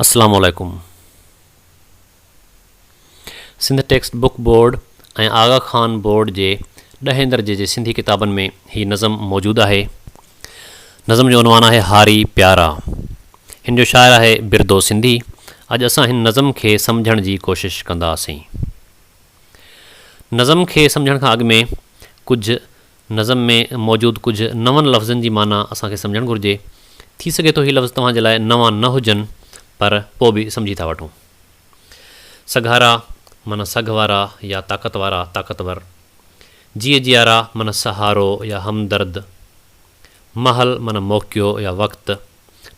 السلام عليڪم Sindh text book board ۽ Aga Khan board جي ڏهين درجي جي سنڌي ڪتابن ۾ هي نظم موجود آهي نظم جو عنوان آهي هاري پيارا هن جو شاعر آهي بردو سنڌي اڄ اسان هن نظم کي سمجهڻ جي ڪوشش ڪنداسين نظم کي سمجهڻ کان اڳ ۾ ڪجهه نظم ۾ موجود ڪجهه نون لفظن جي معنيٰ اسان کي سمجهڻ گهرجي. ٿي سگهي ٿو هي لفظ توهان جي لاء نوان نه هجن پر پوء به سمجهي ٿا وٺون. سگهارا معنيٰ سگهه وارا يا طاقت وارا، طاقتور. جيء جيارا معنيٰ سهارو يا همدرد. مهل معنيٰ موقعو يا وقت.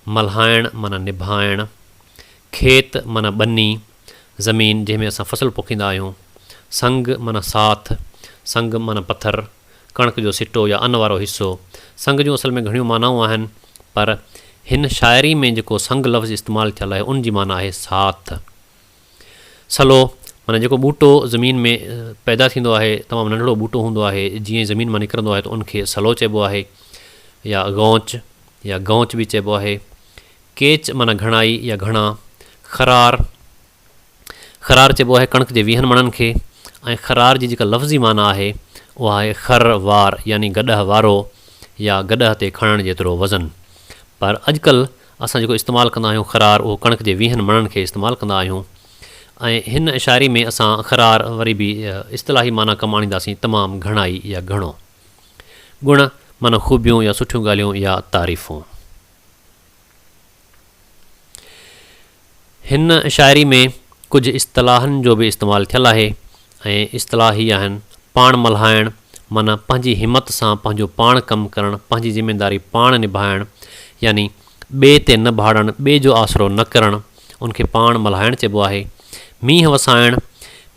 ملهائڻ معنيٰ نڀائڻ. کيت معنيٰ ٻني. زمين جنهن ۾ اسان فصل پوکيندا آهيون، سنگ معنيٰ ساٿ، سنگ معنيٰ پٿر، ڪڻڪ جو سٽو يا ان وارو حصو، سنگ جون اصل ۾ گهڻيون معنائون آهن پر هن شاعري ۾ جيڪو سنگ لفظ استعمال ٿيل آهي ان جي معنيٰ آهي ساٿ. سلو معنيٰ جيڪو ٻوٽو زمين ۾ پيدا ٿيندو آهي، تمام ننڍڙو ٻوٽو هوندو آهي، جيئن ئي زمين مان نڪرندو آهي ته ان کي سلو چئبو آهي يا غونچ يا گونچ به چئبو آهي. ڪيچ معنيٰ گهڻائي يا گهڻا. خرار، خرار چئبو آهي ڪڻڪ جي ويهن مڻن کي ۽ خرار جي جيڪا لفظي معنيٰ آهي اها آهي خر وار يعني گڏهه وارو يا گڏهه تي کڻڻ جيترو وزن. پر اڄڪلهه اسان جيڪو استعمال ڪندا آهيون خرار اهو ڪڻڪ جي ويهن مڻن کي استعمال ڪندا آهيون ۽ هن شاعري ۾ اسان خرار وري به اصطلاحي معنيٰ ڪم آڻينداسين تمام گهڻائي يا گهڻو. گڻ معنيٰ خوبيون يا سٺيون ڳالهيون يا تعريفون. هن شاعري ۾ ڪجهه اصطلاحن جو به استعمال ٿيل آهي ۽ اصطلاح هي آهن، پاڻ ملهائڻ، معنيٰ پنهنجي همت سان پنهنجو پاڻ ڪم ڪرڻ، پنهنجي ذميداري پاڻ نڀائڻ، يعني ٻئي تي نه ڀاڙڻ، ٻئي جو آسرو نه ڪرڻ، ان کي پاڻ ملهائڻ چئبو آهي. مينهن وسائڻ،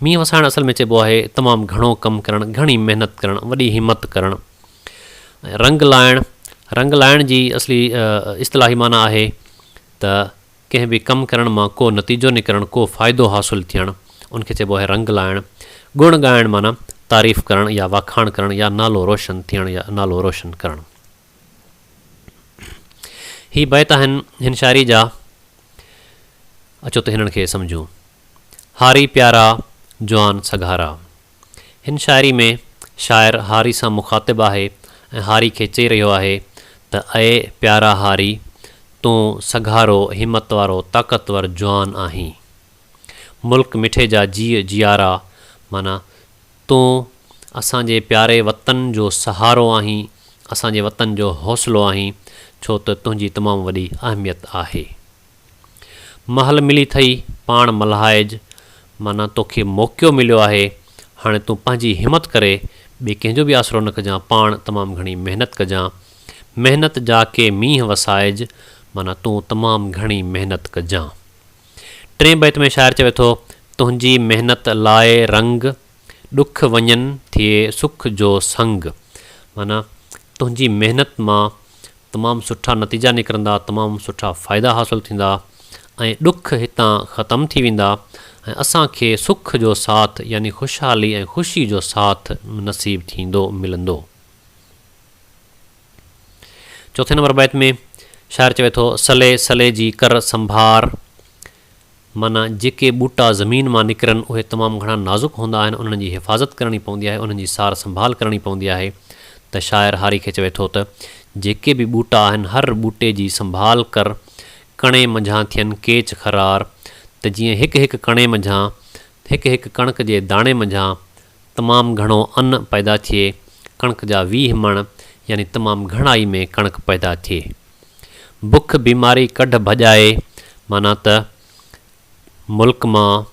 مينهن وسائڻ اصل ۾ چئبو آهي تمام گهڻو ڪم ڪرڻ، گهڻي محنت ڪرڻ، وڏي همت ڪرڻ. رنگ لائڻ، رنگ لائڻ جي اصلي اصطلاحي معنيٰ آهي ته ڪنهن به ڪم ڪرڻ مان ڪو نتيجو نڪرڻ، ڪو فائدو حاصل ٿيڻ، ان کي چئبو آهي رنگ لائڻ. گڻ ڳائڻ معنيٰ تعريف ڪرڻ يا واکاڻ ڪرڻ يا نالو روشن ٿيڻ يا نالو روشن ڪرڻ. هي بيت آهن هن شاعري جا، اچو ته هنن کي سمجهون. هاري پيارا جوان سگهارا. هن شاعري ۾ شاعر هاري سان مخاطب آهي ۽ هاري کي چئي رهيو آهي ته اي پيارا هاري! تون سگهارو، همت وارو، طاقتور جوان آهين. ملڪ مٺي جا جيء جيارا معنيٰ تون اسان جي پياري وطن جو سهارو آهين، اسان جي وطن جو حوصلو آهين، ڇو ته تنهنجي تمام وڏي اهميت آهي. مهل ملي ٿئي پاڻ ملهائج معنيٰ توکي موقعو مليو آهي هاڻي تون پنهنجي همت ڪري ٻي ڪنهن جو به آسرو نه ڪجان پاڻ تمام گهڻي محنت ڪجان محنت جا ڪي مينهن وسائج معنيٰ تون تمام گهڻي محنت ڪجان ٽئين بيت ۾ شاعر چوي ٿو تنهنجي محنت لاء رنگ ڏک وڃن ٿئي سک جو سنگ معنيٰ تنهنجي محنت مان تمام سٺا نتيجا نڪرندا، تمام سٺا فائدا حاصل ٿيندا ۽ ڏک هتان ختم ٿي ويندا ۽ اسان کي سک جو ساٿ يعني خوشحالي ۽ خوشي جو ساٿ نصيب ٿيندو، ملندو. چوٿين نمبر بيت ۾ شاعر چوي ٿو، سلي سلي جي ڪر سنڀار، معنيٰ جيڪي ٻوٽا زمين مان نڪرن اهي تمام گهڻا نازڪ هوندا آهن انهن جي حفاظت ڪرڻي پوندي آهي انهن جي سار سنڀال ڪرڻي پوندي آهي ته شاعر هاري کي چوي ٿو ته جيڪي به ٻوٽا آهن هر ٻوٽي جي سنڀال ڪر ڪڻي منجهان ٿين ڪيچ خرار ته جيئن هڪ هڪ ڪڻي منجهان هڪ هڪ ڪڻڪ جي داڻي منجهان تمام گهڻو ان پيدا ٿئي ڪڻڪ جا ويهه مڻ يعني تمام گهڻائي ۾ ڪڻڪ پيدا ٿئي. بک بيماري ڪڍ ڀڄائي معنيٰ ته ملڪ مان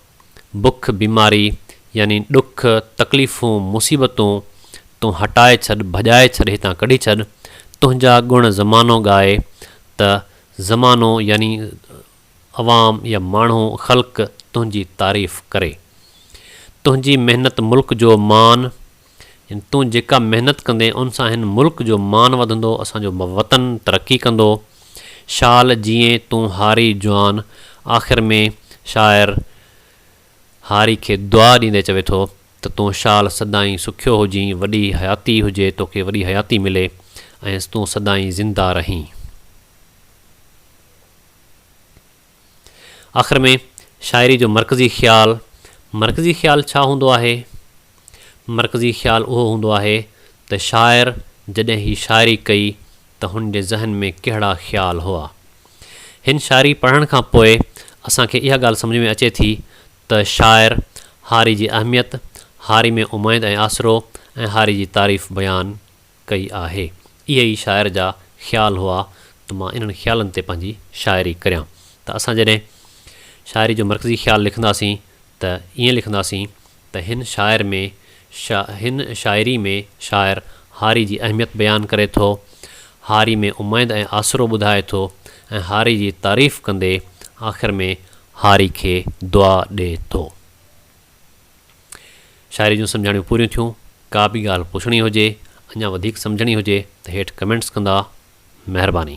بک بيماري يعني ڏک تڪليفون مصيبتون تون هٽائي ڇڏ ڀڄائي ڇڏ هتان ڪڍي ڇڏ تنهنجا گڻ زمانو ڳائي ته زمانو يعني عوام يا ماڻهو خلق تنهنجي تعريف ڪري تنهنجي محنت ملڪ جو مان يعني تون جيڪا محنت ڪندين ان سان هن ملڪ جو مان وڌندو اسان جو وطن ترقي ڪندو شال جيئين تون هاري جوان آخر ۾ شاعر هاري کي دعا ڏيندي چوي ٿو ته تون شال سدائين سکيو هجين وڏي حياتي هجي توکي وڏي حياتي ملي ۽ تون سدائين زنده رهين. آخر ۾ شاعري جو مرڪزي خيال، مرڪزي خيال ڇا هوندو آهي؟ مرڪزي خيال اهو هوندو آهي ته شاعر جڏهن هي شاعري ڪئي ته هن جي ذهن ۾ ڪهڙا خيال هئا. هن شاعري پڙهڻ کان پوء اسان کي اها ڳالهه سمجهه ۾ اچي ٿي ته شاعر هاري جي اهميت، هاري ۾ اميد ۽ آسرو ۽ هاري جي تعريف بيان ڪئي آهي. اهي ئي شاعر جا خيال هئا ته مان انهن خيالن تي پنهنجي شاعري ڪريان ته اسان جڏهن شاعري جو مرڪزي خيال لکنداسين ته ائين لکنداسين ته هن شاعر ۾ شا هن شاعري ۾ شاعر هاري جي اهميت بيان ڪري ٿو، هاري ۾ اميد ۽ آسرو ٻڌائي ٿو ۽ هاري جي تعريف ڪندي آخر ۾ هاري کي دعا ڏي ٿو. شاعري جون سمجهاڻيون پوريون ٿيون. ڪا به ڳالهه پڇڻي هجي، اڃا وڌيڪ سمجهڻي هجي ته هيٺ ڪمينٽس ڪندا. مهرباني.